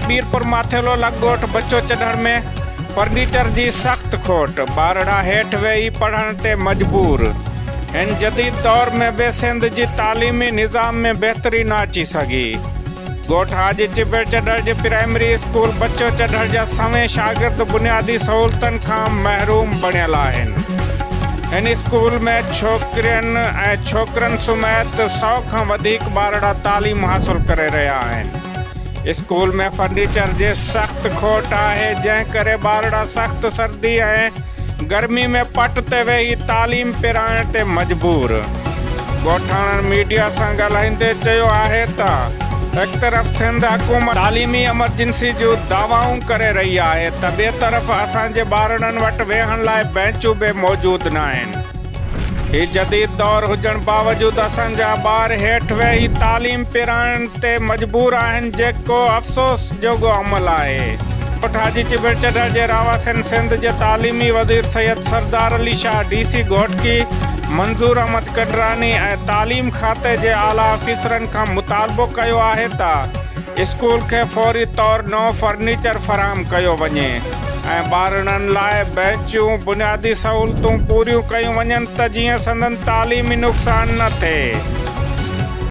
ميرپور ماٿيلو لڳ ڳوٺ بچو چڍڻ ۾ فرنيچر جي سخت کوٽ، ٻارڙا هيٺ ويهي پڙهڻ تي مجبور، هن جديد دور ۾ به سنڌ جي تعليمي نظام ۾ بهتري نه اچي سگهي. ڳوٺ حاجي چٻر چڍر جي پرائمري اسڪول بچو چڍر جا سوين شاگرد بنيادي سهولتن کان محروم بڻيل آهن. هن اسڪول ۾ ڇوڪرين ۽ ڇوڪرن سميت سؤ کان وڌيڪ ٻارڙا تعليم حاصل ڪري رهيا آهن. اسڪول ۾ فرنيچر جي سخت کوٽ آهي جنهن ڪري ٻارڙا سخت سردي ۽ گرمي ۾ پٽ تي ويهي تعليم پرائڻ تي مجبور. ڳوٺاڻن ميڊيا سان ڳالهائيندي چيو آهي ته هڪ طرف سنڌ حڪومت تعليمي ايمرجنسي جون دعوائون ڪري رهي آهي ته ٻئي طرف اسان جي ٻارڙن وٽ ويهڻ لاء بئنچون به موجود ناهن. هي جديد دور هجڻ باوجود اسان جا ٻار هيٺ ويهي تعليم پرائڻ تي مجبور آهن جيڪو افسوس جوڳو عمل آهي. ڳوٺ حاجي چٻڙ چڍر جي رهواسين سنڌ جي تعليمي وزير سيد سردار علي شاهه، ڊي سي گهوٽڪي منظور احمد ڪڏراني ۽ تعليم کاتي جي اعليٰ آفيسرن کان مطالبو ڪيو آهي ته اسڪول کي فوري طور نئون فرنيچر فراهم ڪيو وڃي. ۽ ٻارڙن لاء بينچ جون بنيادي سهولتون پوريون ڪيون وڃن ته جيئن سندن تعليمي نقصان نه ٿئي.